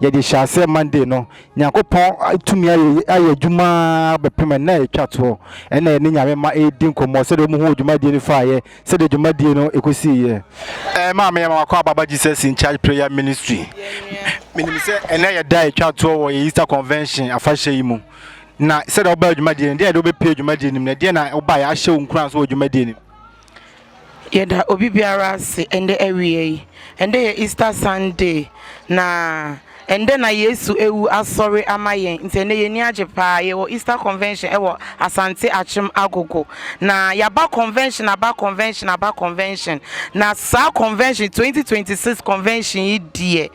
yɛdze hyɛɛ aseɛ Monday no, Nyankopɔn tumii ayɛ ayɛ edwuma ara bɛpem nna a etwa toɔ. Nna yɛne Nyame mma eedzi nkɔmbɔ sɛdeɛ wɔn hun dwumadie no faayɛ, sɛdeɛ dwumadie no ekosiiyɛ. Ɛɛ maa meyɛ Mama Kwaa Baba Jesus in Charge Prayer Ministry. Menim sɛ ɛnnɛ yɛ da a etwa toɔ wɔ yɛn Easter Convention afahyɛ yi mu. Na sɛdeɛ wobaa dwumadie no, deɛn na wode wobɛpue dwumadie no mu, na deɛn na wobaeɛ ahyɛ wo nkuran so wɔ dwumadie no mu? Yɛda obi biara ase ɛndɛ awia yi. Ɛndɛ yɛ Easter Sunday na ɛndɛ na Yesu awu asɔre ama yɛn. Nti ɛndɛ yɛn ani agye paa. Yɛwɔ Easter Convention ɛwɔ Asante Akyem Agogo. Na yɛaba convention aba convention aba convention. Na saa convention 2026 convention yi deɛ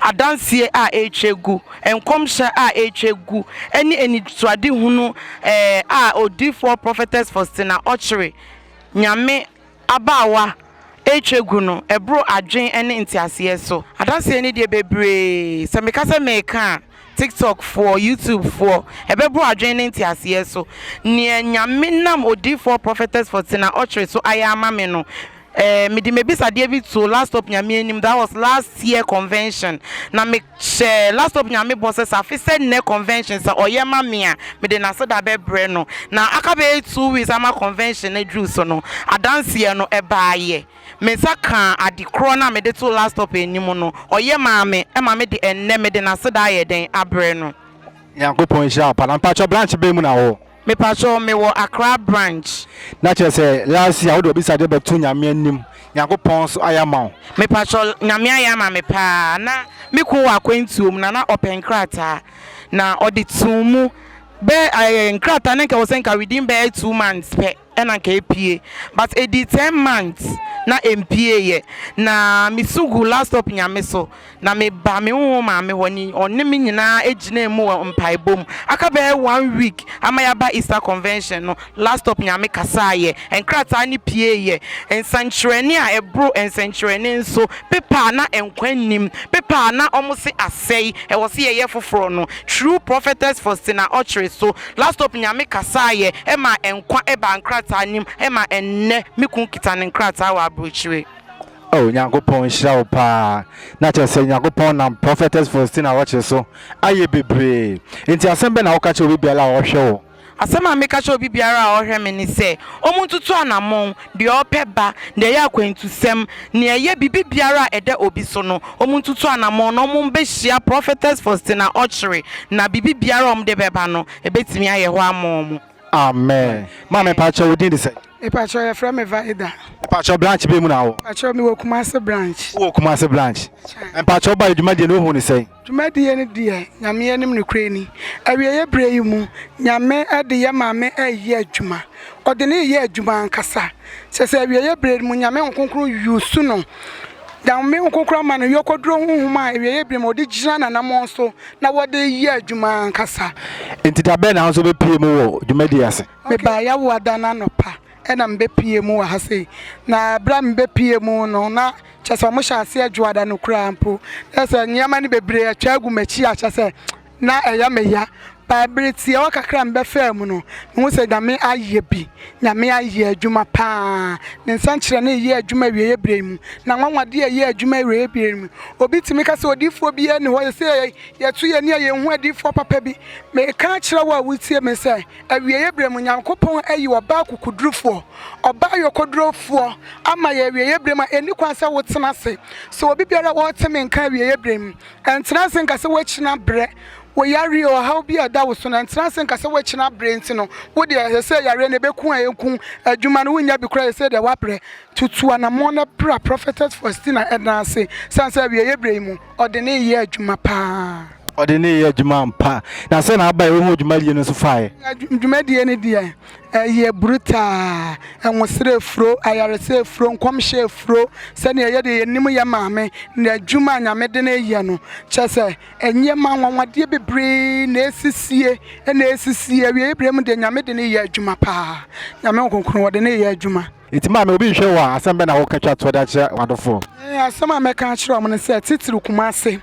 adanseɛ a ɛretwa gu, nkɔmhyɛ a ɛretwa gu ɛne anisoadehunu ɛɛ a odiyifoɔ Prophetess Faustina Ɔkyere Nyame abaawa retwa gu no ɛboro adwen ne nteaseɛ so. Adanseɛ no deɛ bebree, sɛ meka sɛ meka a, TikTok foɔ, YouTube foɔ, ɛbɛboro adwen ne nteaseɛ so. Neɛ Nyame nam odiyifoɔ Prophetess Fortina Okyere so ayɛ ama me no, eh, mede m'abisadeɛ bi too Last Hope Nyame anim, that was last year convention, na me, Hyɛ Lastop Nyame bɔ sɛ, sɛ afe sɛ nnɛ convention sɛ ɔyɛ ma me a, mede n'aseda bɛbrɛ no. Na aka bɛyɛ two weeks ama convention no aduru so no, adanseɛ no, ɛbaeɛ. Me nsa kaa ade korɔ no a mede too Lastop anim no, ɔyɛ maa me, ɛma me de ɛnnɛ mede n'aseda ayɛ dɛn? abrɛ no. Nyankopɔn nhyira wo pa na mpakyɛ branch bɛn mu na wo wɔ. Mepakyɛw me wɔ Accra branch. Na kyerɛ sɛ last year wode w'abisade bɛto Nyame anim, Nyankopɔn so ayɛ ama wo. Mepakyɛw, Nyame ayɛ ama me paa, na me kun wɔ akwantuo mu na na ɔpɛ nkrataa, na ɔde too mu bɛ ɛɛ nkrataa no nka ɛwɔ sɛ nka within bɛyɛ two months pɛ. na anka epue but edii ten months na empiee yɛ na me su gu last hope Nyame so na me ba me honhom maame hɔ ne ɔne me nyinaa egyinaa mu wɔ mpaebɔ mu aka bɛyɛ one week ama yaba Easter convention no last hope Nyame kasaa yɛ nkrataa no piee yɛ nsɛnkyerɛnne a ɛboro nsɛnkyerɛnne nso paper a na nkwa nnim paper a na wɔn se asɛe ɛwɔ se yɛyɛ foforɔ no true prophetess Faustina Okyere so Laptop Nyame kasaeɛ maa nkwa baa nkrataa no mu ma ɛnnɛ me kun kita ne nkrataa wɔ abrokyire. Oh Nyankopɔn nhyira wo paa na kyerɛ sɛ Nyankopɔn nam Prophetess Faustina Ɔkyere so ayɛ bebree nti asɛm bɛn na woka kyerɛ obi biara a ɔhwɛ wo? Asɛm a meka kyerɛ obi biara a ɔhwɛ me ne sɛ ɔmo ntutu anamɔn deɛ ɔpɛ ba, deɛ ɛyɛ akwantusɛm, nea ɛyɛ biribi biara a ɛda obi so no, wɔntutu anamɔn na wɔmmɛhyia Prophetess Faustina Okyere, na biribi biara a wɔde bɛba no, ɛbɛtumi ayɛ hɔ ama wɔn. Amen. Maame mpakyɛw wo din de sɛn? Mepakyɛw yɛfrɛ me Vaida. Mepakyɛw branch bɛn mu na wɔ? Mepakyɛw mewɔ Kumasi branch. Wowɔ Kumasi branch. Mepakyɛw wobaeɛ dwumadie no wohuu no sɛn? Dwumadie no deɛ Nyame anim nokorɛ ni, awieɛ berɛ yi mu Nyame de yɛ Maame reyɛ adwuma, ɔde no reyɛ adwuma ankasa, kyerɛ sɛ awieɛ berɛ no mu Nyame Honhom Kronkron use no, Nyame Honhom Kronkron ama no yɔkɔduro Honhom a awieɛ berɛ mu ɔde gyina n'anamɔn so na wɔde reyɛ adwuma ankasa. Nti da bɛn na wo nso wobɛpue mu wɔ dwumadie yi ase? Mebaa yɛawoa da no anɔpa, na mebɛpuee mu wɔ ha sei. Na berɛ a mebɛpuee mu no, na kyerɛ sɛ wɔhyɛɛ aseɛ Dwoada no koraa mpo. Kyerɛ sɛ nneɛma no bebree atwa agu m'akyi a kyerɛ sɛ na ɛyɛ me ya. Baa berɛ tiawa kakra a mebɛfaa mu no, mehu sɛ Nyame ayɛ bi. Nyame ayɛ adwuma pa ara. Ne nsɛnkyerɛnne reyɛ adwuma awieeɛ berɛ yi mu. N'anwanwadeɛ reyɛ adwuma awieeɛ berɛ yi mu. Obi tumi ka sɛ odiyifoɔ biara nni hɔ. Seesei yɛato yɛn ani a yɛnhu adiyifoɔ papa bi. Mereka akyerɛ wo a woretie me sɛ. Awieeɛ berɛ mu, Nyankopɔn ayi ɔbaa akokodurufoɔ, ɔbaa ayɔkodurofoɔ, ama yɛn awieeɛ berɛ mu a ɛnni kwan sɛ wotena ase. So obi biara a ɔrete me nka awieeɛ berɛ mu, ɛntena ase nka sɛ woakyina berɛ. Wo yareɛ o, ɔhaw bi a ɛda wo so no, ɛntena ase nka sɛ woakyina berɛ nti no, wo deɛ ɛsɛ sɛ yareɛ no ɛbɛku a ɛnku, adwuma no wonnya bi koraa ɛsɛ sɛ deɛ woabrɛ. Tutu anammɔn na bra Prophetess Faustina nan ase, ɛsiane sɛ awieeɛ berɛ yi mu, ɔde ne yɛ adwuma pa ara. ɔde ne yɛ adwuma ampa na sɛ na aba ɛwɔ ho dwumadie no nso faeɛ dwumadie no deɛ ɛyɛ brutaa ɛnwosere afuro ayaresɛ afuro nkɔmhyɛ afuro sɛdeɛ ɛyɛ deɛ yɛnim yɛ maame na adwuma a nyame de no yɛ no kyɛ sɛ ɛnneɛma nwanwadeɛ bebree na ɛsisie ɛna ɛsisie awieɛ berɛ mu deɛ nyame de no yɛ adwuma paa nyame nkonkron wɔde ne yɛ adwuma Enti maame, obi nhwɛ wo a, asɛm bɛn na woka twa toɔ de akyerɛ w'adɔfoɔ? Ɛɛ, asɛm a mɛka akyerɛ wɔn ne sɛ, titiriw Kumase,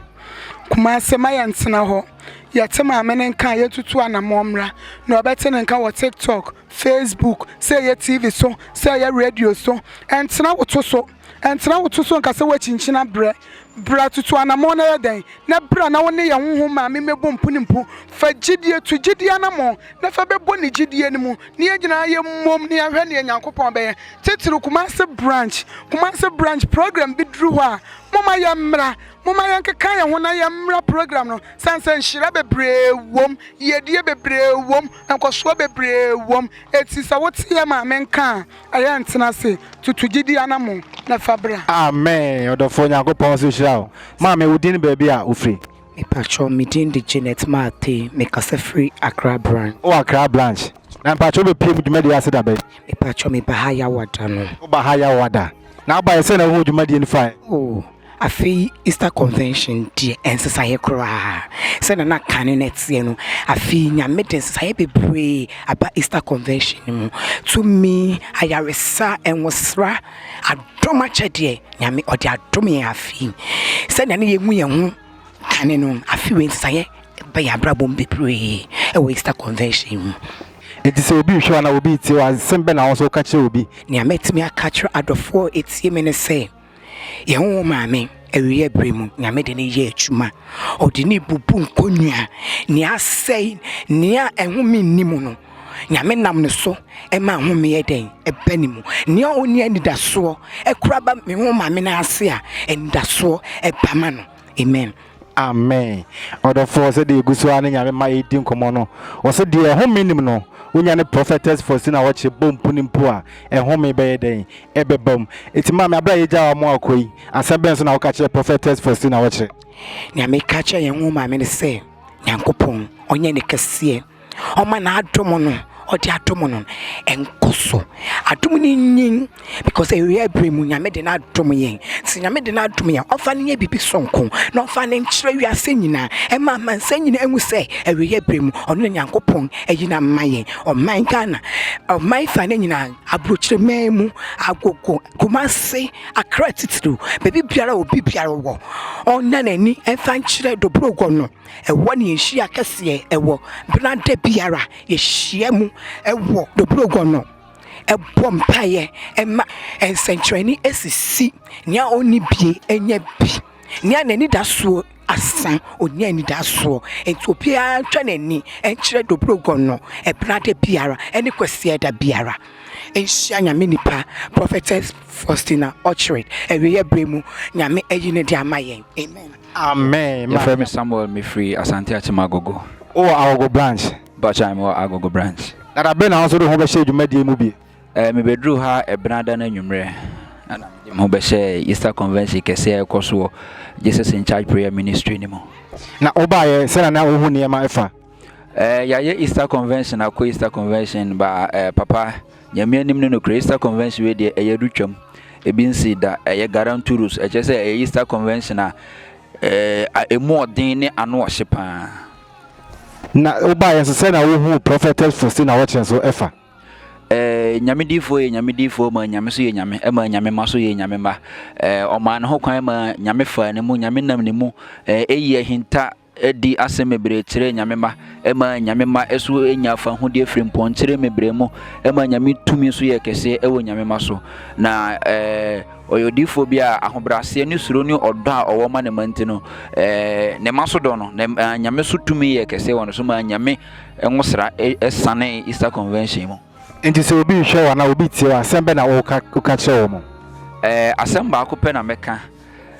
Kumase, mma yɛntena hɔ. Yɛte maame no nka a, yɛntutu anammɔn mmra. Nea ɔbɛte ne nka wɔ TikTok, Facebook, sɛ ɛyɛ TV so, sɛ ɛyɛ radio so, ɛntena wo to so. Ɛntena wo to so nka sɛ woakyinkyin abrɛ. Bra, tutu anammɔn na yɛ dɛn? Na bra na wo ne yɛn honhom maame mmɛbɔ mpunimpu. Fa gyidie tu gyidie anammɔn na fa bɛbɔ ne gyidie no mu na yɛn nyinaa yɛ mmom na yɛahwɛ ne Nyankopɔn bɛyɛ titiriw Kumasi branch Kumasi branch program bi duru hɔ a moma yɛn mmra moma yɛn keka yɛn ho na yɛn mmra program no san sɛ nhyira bebree wɔm yiedie bebree wɔm nkɔsoɔ bebree wɔm eti sɛ wote yɛ maame nka a ɛyɛ ntena se tutu gyidie anamo na fa bra. Amen ɔdɔfoɔ Nyankopɔn nso nhyira wo maame wo din ne baabi a wo firi. Mepakyɛw, me din de Janet Martey, mekasa firi Accra branch. Wowɔ Accra branch. Na mepakyɛw wobɛpue mu dwumadie ase da bɛn? Mepakyɛw meba ha Yawa da no. Woba ha Yawa da. Na wobaeɛ sɛn na wohuu dwumadie no faeɛ? Oh, afe yi Easter convention deɛ ɛnsesaeɛ koraa. Sɛdeɛ na kane no ɛteɛ no, afe yi Nyame de nsesaeɛ bebree aba Easter convention no mu. Tumi, ayaresa, nwosra. Adom akyɛdeɛ, Nyame ɔde adom yɛn afe yi. Sɛnea ne yɛhu yɛn ho kane no, afe wei nsaeɛ ba yɛn abrabɔ mu bebree wɔ Easter Convention mu. Enti sɛ obi rehwɛ wo anaa obi retie wo a, nsɛm bɛn na wo nso woka kyerɛ obi? Nea mɛtumi aka akyerɛ adɔfoɔ a wɔtie me ne sɛ, yɛn ho wo Maame, awieeɛ berɛ mu, Nyame de no yɛ adwuma. Ɔde no rebubu nkonnwa, nea asɛe, nea ɛhome nni mu no. Nyame nam ne so ma ahome yɛ dɛn? Ɛba ne mu. Nea ɔnni anidasoɔ kora ba me ho maame no ase a, anidasoɔ ɛba ma no. Amen. Amen. Ɔdɔfoɔ sɛ deɛ ɛgu so ara ne Nyame ma yɛdi nkɔmmɔ no, ɔsɛ deɛ ɛhome nim no, wonya ne Prophetess Faustina Wɔkye bɔ mpuni mpo a, ɛhome bɛyɛ dɛn? Ɛbɛba mu. Eti maame, aberɛ a yɛgya wɔn akɔ yi, asɛm bɛn so na woka kyerɛ Prophetess Faustina Wɔkye? Nea meka kyerɛ yɛn ho maame ne sɛ, Nyankopɔn, ɔnyɛ ne kɛseɛ. Ɔma n'adom no, ɔde adom no no, nkɔ so. Adom no nyin because awia bere mu Nyame de no adom yɛn. Sɛ Nyame de no adom yɛn, ɔmfa no nyɛ biribi sononko na ɔmfa no nkyerɛ wiase nyinaa. Ɛma amansan nyinaa hu sɛ awia bere mu ɔno na Nyankopɔn ayi no ama yɛn. Ɔman Ghana, ɔman fa no nyinaa, aburokyire man mu, Agogo, Kumasi, Accra titiriw, baabi biara a obi biara wɔ, ɔnna n'ani mfa nkyerɛ Dobrogua no. Ɛhɔ ne yɛn hyia kɛseɛ wɔ berɛ a da biara yɛhyia mu wɔ Dobrogono bɔ mpaeɛ ma nsɛnkyerɛnne asisi, nea ɔnni bie anya bi, nea n'anidasoɔ asa ɔnya anidasoɔ. Nti obiara ntwa n'ani nkyerɛ Dobrogono berɛ a da biara ne Kwasiɛ da biara. Nhyia Nyame nipa Prophetess Faustina Okyere awieɛ berɛ mu Nyame ayi no de ama yɛn. Amen. Amen ma. Yɛfrɛ me Samuel me firi Asante Akyem Agogo. Wo wɔ Agogo branch? Mpakyɛw me wɔ Agogo branch. Dada bɛn na wo nso de wo ho bɛhyɛ dwumadie mu bi? Eh, me bɛduruu ha Ɛbenada no anwummerɛ na na mede me ho bɛhyɛ Easter Convention kɛseɛ a ɛkɔ so wɔ Jesus in Charge Prayer Ministry no mu. Na wo baeɛ sɛna na wo hu nneɛma fa? Eh, yɛayɛ Easter Convention akɔ Easter Convention ba eh, papa. Nyame anim no nokorɛ Easter Convention wei deɛ ɛyɛ do twam ebi nsii da ɛyɛ Garanturos ɛkyerɛ sɛ ɛyɛ Easter Convention a ɛɛ emu ɔden ne ano ɔhye paa. Na wobaeɛ nso sɛ na wohuu Prophetess Faustina Ɔkyere nso ɛfa. Ɛɛ Nyame diifoɔ yɛ Nyame diifoɔ maa Nyame so yɛ Nyame ɛmaa Nyame mma so yɛ Nyame mma ɛɛ ɔmaa ne ho kwan maa Nyame faa ne mu Nyame nam ne mu ɛɛ eyi ahinta di asɛm bebree kyerɛ Nyame mma, ɛma Nyame mma so nya fahudeɛ firi mpɔnkyere mebrɛ mu, ɛma Nyame tumi so yɛ kɛseɛ wɔ Nyame mma so. Na eh, ɔyɛ odiyifoɔ bi a ahobrɛaseɛ ne suro ne ɔdɔ a ɔwɔ ma ne mma nti no, eh, ne mma so dɔ no, na ɛma Nyame so tumi yɛ kɛseɛ wɔ no so, ma Nyame nwosra sane Easter Convention mu. Nti sɛ obi rehwɛ wo anaa obi retie wo a, asɛm bɛ na woka kyerɛ wɔn? Eh, asɛm baako pɛ na mɛka.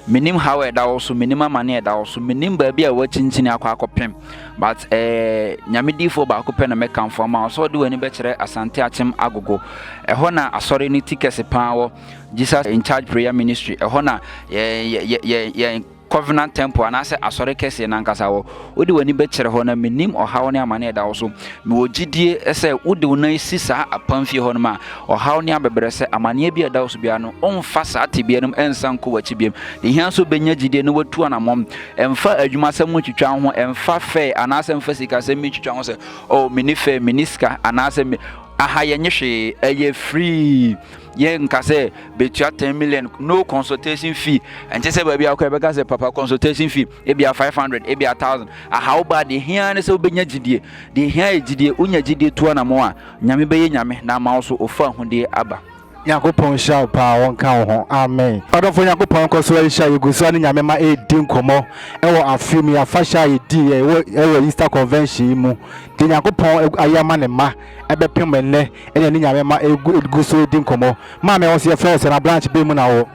Menim haw a ɛda wo so, menim amane a ɛda wo so, menim baabi a woakyinkyini akɔ akɔpem. But ɛɛ eh, nyame diifoɔ baako pɛ na mɛkamfo ama wo sɛ ɔde w'ani bɛkyerɛ Asante Akyem Agogo. Ɛhɔ na asɔre no ti kɛse paa wɔ Jesus in Charge Prayer Ministry. Ɛhɔ na yɛn covenant temple anaasɛ asɔre kɛseɛ nankasa wɔ Wode w'ani bɛkyerɛ hɔ na menim ɔhaw ne amane a ɛda wo so. Mewɔ gyidie sɛ wode wo nan si saa apamfie hɔ nom a, ɔhaw ne abɛbrɛsɛ, amaneɛ biara a ɛda wo so biara no, woremfa saa tebea no mu nsan nkɔ w'akyi bio. Deɛ ɛhia nso, bɛnya gyidie na watu anammɔn. Mfa adwumasɛm ho ntwitwa wo ho, mfa fɛɛ anaasɛ mfa sikasɛm bi ntwitwa wo ho sɛ, Oh, menni fɛɛ, menni sika, anaasɛ me, aha yɛnnye hwee, ɛyɛ free. yɛ nka sɛ betua ten million no consultation fee ɛnkyɛ sɛ baabi akɔ ɛbɛka sɛ papa consultation fee ebia five hundred ebia thousand ahaw ba deɛ hia ne sɛ wobɛnya gyidie deɛ hia yɛ gyidie wonya gyidie tu anamo a nyame bɛyɛ nyame na ama wo so ofa ahodie aba nyankopɔn nhyira wo paa ɔnka wo ho amen ɔdɔfo nyankopɔn nkɔ so nhyira yɛgu so ne nyame ma ɛredi nkɔmmɔ ɛwɔ afe mu yɛafahyɛ a yɛdii ɛwɔ easter convention yi mu deɛ nyankopɔn ayɛ ama ne ma ɛbɛpem ɛnnɛ ɛna ne nyame ma ɛgu so ɛdi nkɔmɔ maa me wo so yɛfrɛ wo sɛ na branch bɛ mu na wɔ.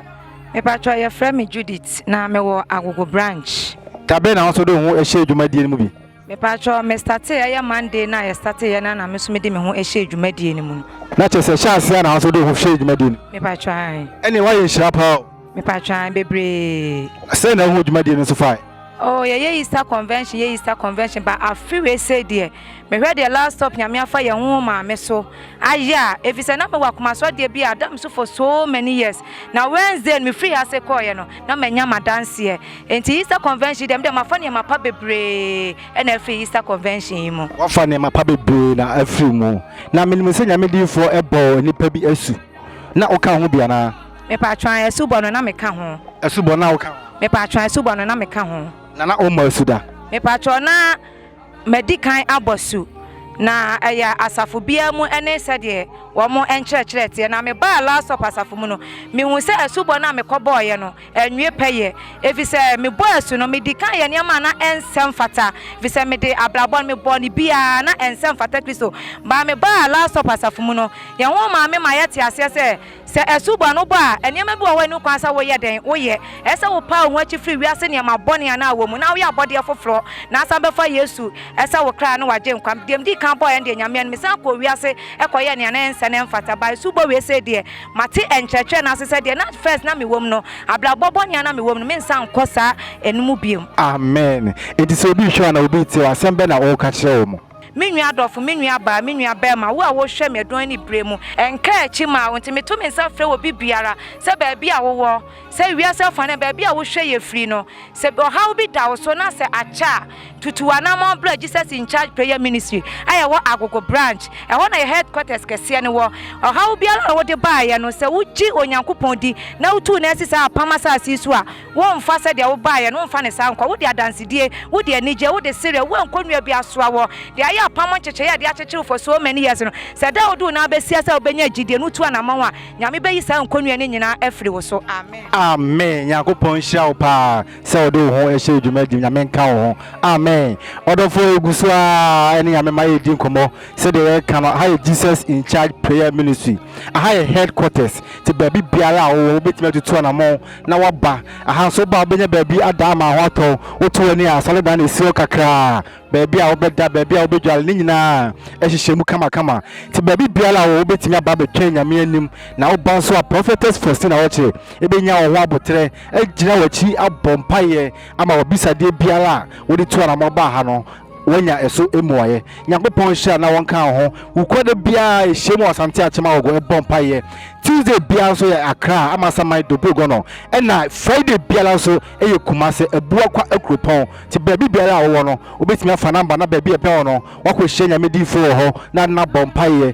Mepatrɔ yɛfrɛ me Judith na me wɔ agogo branch. Dabɛn na wo nso de wo ho ɛhyɛɛ dwumadie no mu bi. Mepatrɔ me startee ɛyɛ Monday na yɛ startee yɛ na na me nso me de me ho ɛhyɛɛ dwumadie no mu no. Na kyerɛ sɛ ɛhyɛ aseɛ na wo nso de wo ho hyɛɛ dwumadie no. Mepatrɔ aane. Ɛne woayɛ nhyira paa o. mepatwaa bebree. sɛn na wohu dwumadie no so fae. Oh, yɛyɛ Easter convention, yɛ Easter convention, but afe wei sei deɛ, mehwɛ deɛ last stop nyame afa yɛn ho maame so ayɛ a, ɛfiri sɛ na mewɔ akomasoɔdeɛ bi a adam so for so many years, na Wednesday no mefiri ase kɔɔyɛ no, na manya madanseɛ. Enti Easter convention deɛ, medeɛ mafa nneɛma pa bebree na afiri Easter convention yi mu. Wafa nneɛma pa bebree na afiri mu. Na menim sɛ nyame diifoɔ bɔɔ nnipa bi asu, na woka ho bi anaa? Mepatwɔ an asubɔ no na meka ho. Asubɔ no na woka ho. Mepatwɔ an asubɔ no na meka ho. Na na ɔmmɔ asu da. Mepatwɔ na madi kan abɔ asu. Na ɛyɛ asafo biara mu ne sɛdeɛ wɔn nkyerɛkyerɛ teɛ. Na mebaa Last Supper asafo mu no, mehuu sɛ asubɔ no a mekɔbɔeɛ no anwie pɛyɛ. Ɛfiri sɛ mebɔɔ asu no, medi kan yɛɛ nneɛma a na ɛnsɛ mfata. Ɛfiri sɛ mede abrabɔ no mebɔɔ no biara a na ɛnsɛ mfata Kristo. Baa mebaa Last Supper asafo mu no, yɛn ho maa me maa yɛtee aseɛ sɛ, Sɛ ɛso bɔ no bɔ a, nneɛma bi wɔ hɔ a ɛnni kwan sɛ woyɛ dɛn? Woyɛ. Ɛsɛ sɛ wopaw wo ho akyi firi wiase nneɛma bɔne a na wowɔ mu na woyɛ abɔdeɛ foforɔ na asan bɛfa Yesu sɛ wo kra ne w'agyenkwa. Deɛ medii kan bɔeɛ no deɛ, Nyame anim, mesan kɔɔ wiase kɔyɛɛ nea na ɛnsɛ na ɛmfata. By subɔ wei sei deɛ, mate nkyerɛkyerɛ no ase sɛ deɛ na first na mewɔ mu no, abrabɔ bɔne a na mewɔ mu no, mensan nkɔ saa ɛno mu bio. Amen. Enti sɛ obi rehwɛ wo anaa obi retie wo a, asɛm bɛn na ɔreka kyerɛ wɔn? Me nua adɔfo, me nua baa, me nua barima, wo a wohwɛ me ɛdɔn ne bere mu, ɛnka akyi mmaa wo nti meto me nsa frɛ obi biara sɛ baabi a wowɔ, sɛ wiase afa no baabi a wohwɛ yɛ firi no, sɛ ɔhaw bi da wo so na sɛ akyɛ a, tutu w'anamɔn bra Jesus in Charge Prayer Ministry a yɛwɔ Agogo Branch. Ɛhɔ na yɛ headquarters kɛseɛ no wɔ. Ɔhaw biara a wode baeɛ no, sɛ wogye Onyankopɔn di na wotu no asi saa apam asase yi so a, Womfa sɛdeɛ wobaeɛ no, womfa no saa nkɔ. Wode adansedie, wode anigyeɛ, wode sereɛ, woa nkɔnnua bi asoa woɔ de ayɛ apam nkyekyereɛ a ɛde akyekyere wo for so many years no. Sɛ da a wode wo nan bɛsia sɛ wobɛnya gyidie no wotu anamɔn a, Nyame bɛyi saa nkɔnnua no nyinaa afiri wo so. Amen. Amen Nyankopɔn nhyira wo paa sɛ wode wo ho hyɛ dwuma di Nyame nka wo ho Amen Ɔdɔfoɔ yɛgu so aa ne Nyame ma yɛredi nkɔmmɔ sɛdeɛ yɛreka no aha yɛ Jesus in charge prayer ministry aha yɛ headquarters nti baabi biara a wowɔ wobɛtumi atutu anamɔn na woaba aha nso woba a wobɛnya baabi ada ama ho atɔ wo. Woto w'ani a asɔredan na ɛsi hɔ kakraa, baabi a wobɛda, baabi a wobɛdware, ne nyinaa ahyehyɛ mu kamakama. Nti baabi biara a wowɔ wobɛtumi aba abɛtwɛn Nyame anim, na woba nso a Prophetess Faustina Ɔkye bɛnya wo ho aboterɛ, agyina w'akyi abɔ mpaeɛ ama w'abisadeɛ biara a wode tu anamɔ baa ha no Woanya ɛso mmuaeɛ? Nyankopɔn nhyira na ɔnka wo ho. Wo kɔ da biara a ɛhyiam wɔ Asante Akyem Awogo ɛbɔ mpaeɛ. Tuesday biara nso yɛ Accra, Amasaman, Dobrogono. Ɛna Friday biara nso yɛ Kumase, Abuakwa akuropɔn. Nti baabi biara a wowɔ no, wobɛtumi afa number na baabi a ɛbɛn wo no, woakɔhyia Nyame diyifoɔ wɔ hɔ na na bɔ mpaeɛ.